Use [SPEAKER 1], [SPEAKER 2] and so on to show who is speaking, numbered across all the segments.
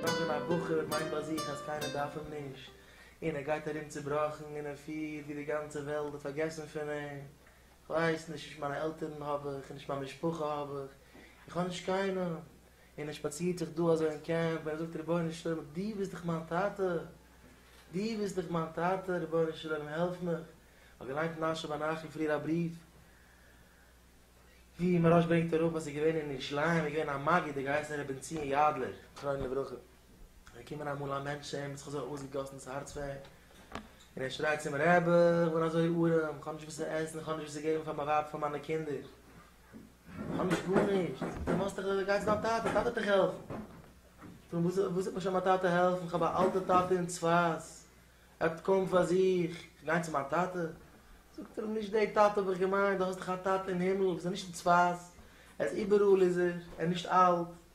[SPEAKER 1] נאך ווען א בחור מיינט ביי זיך אז קיינער דארף אים נישט, און ער גייט ארום צובראכן און ער פילט ווי די גאנצע וועלט האט פארגעסן פון אים, כ'ווייס נישט, נישט מיינע עלטערן האב איך, נישט מיין משפחה האב איך, איך האב נישט קיינעם, און ער שפאצירט זיך דא אזוי אין קעמפ און ער זאגט רבונו של עולם דו ביסט דאך מיין טאטע, דו ביסט דאך מיין טאטע, רבונו של עולם העלף מיך, האט געליינט מנשה בן אחי פריער א בריוו, ווי מרן ברענגט אראפ אז ער איז געווען אין ירושלים, ער איז געווען א מגיד, ער האט געהייסן ר' בן ציון יאדלער, זכרונו לברכה, איז געקומען אמאל א מענטש צו אים, האט זיך אזוי אויסגעגאסן דאס הארץ פאר אים, און ער שרייט צו אים, רבי, איך בין אזוי ארעם, איך האב נישט וואס צו עסן, איך האב נישט וואס צו געבן פאר מיין ווייב, פאר מיינע קינדער, כ'האב נישט גארנישט! דו ווייסט דאך ווען גייט צו דיין טאטע, טאטע האט דיך העלפן! און וואס וואס וועט מיר שוין מיין טאטע העלפן, כ'האב א אלטע טאטע אין צפת, ער האט קוים פאר זיך, כ'גיי צו מיין טאטע? זאגט ער אים, נישט די טאטע האב איך געמיינט, דו האסט דאך א טאטע אין הימל, וואס איז נישט אין צפת, ער איז איבעראל איז ער, ער איז נישט אלט,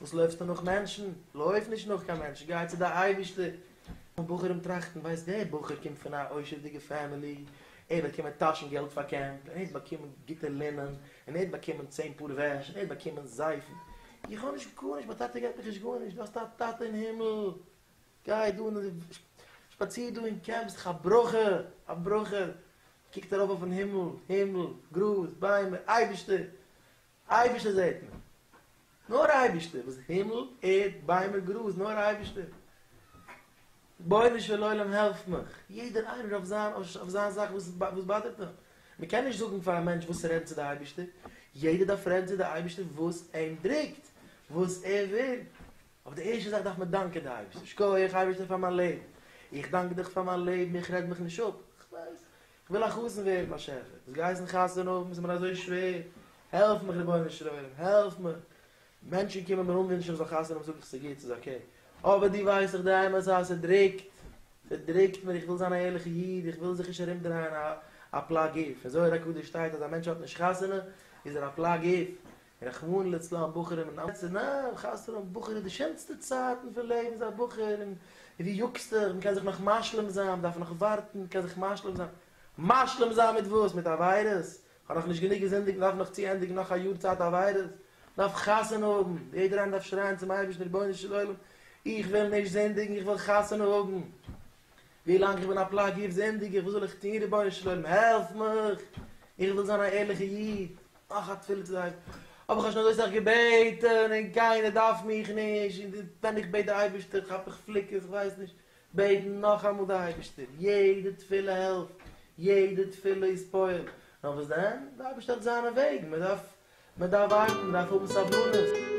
[SPEAKER 1] וואס לויפסטו נאך מענטשן? לויף נישט נאך קיין מענטשן, גיי צו די אייבערשטער. און בחורים טראכטן, ווייסט דער בחור קומט פון א עושר'דיגע פעמילי, ער האט באקומען טאשן געלט פאר קעמפ, און ער האט באקומען גוטע לינען, און ער האט באקומען צען פאר וועש, און ער האט באקומען זייפן. איך האב נישט גארנישט, מיין טאטע געבט מיך נישט גארנישט, דו האסט א טאטע אין הימל, גיי דא און שפאציר דא אין קעמפ, ס'דאך א ברכה, א ברכה, קוקט ארויף אויפן הימל, הימל, גראז, ביימער, אייבערשטער, אייבערשטער זעט מען, נאר אייבערשטער, וואס הימל, ערד, ביימער, גראז, נאר אייבערשטער, רבונו של עולם העלף מיך, יעדער איינער אויף זיין אויף זיין זאך וואס וואס באדערט אים, מען קען נישט זאגן פאר א מענטש וואס צו רעדן צו די אייבערשטער, יעדער דארף רעדן צו די אייבערשטער וואס אים דרוקט, וואס ער וויל, אבער די ערשטע זאך דארף מען דאנקען די אייבערשטער, שקויעך אייבערשטער פאר מיין לעבן, איך דאנק דיך פאר מיין לעבן, איך רעד מיך נישט אפ, כ'ווייס, כ'וויל א חתן ווערן באשעפער, וואס גייסן חתונה האבן איז מיר אזוי שווער, העלף מיך רבונו של עולם, העלף מיך, מענטשן קומען מיר אנווינטשן איך זאל חתונה האבן זאג איך ס'איז גוט, ס'איז אקעי, אבער דו ווייסט דאך די אמת אז ס'דרוקט, ס'דרוקט מיר, איך וויל זיין א ערליכע איד, איך וויל זיך נישט ארומדרייען א פלא גוף, אין זוהר הקדוש שטייט אז א מענטש האט נישט חתונה איז ער א פלא גוף, רחמנא לצלן בחורים אין אמת'ע נאר חזר'ן האבן בחורים די שענסטע צייטן פון לעבן זיי בחור און ווי יוקסטעך מ'קען זיך נאך משלים זיין מ'דארף נאך ווארטן מ'קען זיך משלים זיין משלים זיין מיט וואס מיט עבירות? כ'האב נאך נישט גענוג געזינדיגט מ'דארף נאך צו ענדיגן נאך א יאר צייט עבירות? מ'דארף חתונה האבן יעדער איינער דארף שרייען צום אייבערשטן רבונו של עולם איך וויל נישט זינדיגן איך וויל חתונה האבן ווילאנג איך בין א פלאג יעצט זינדיג איך וואס זאל איך טון רבונו של עולם העלף מיך איך וויל זיין א ערליכע איד מאך א תפילה צו דיין האב איך שוין אזוי סאך געבעטן און קיינער דארף מיך נישט און די ווען איך בעט די אייבערשטער כאפ איך פליקעס איך ווייס נישט בעטן נאכאמאל די אייבערשטער יעדע תפילה העלפט יעדע תפילה איז פועל נאר וואס דען די אייבערשטער האט זיינע וועגן מען דארף מען דארף ווארטן מען דארף האבן סבלנות.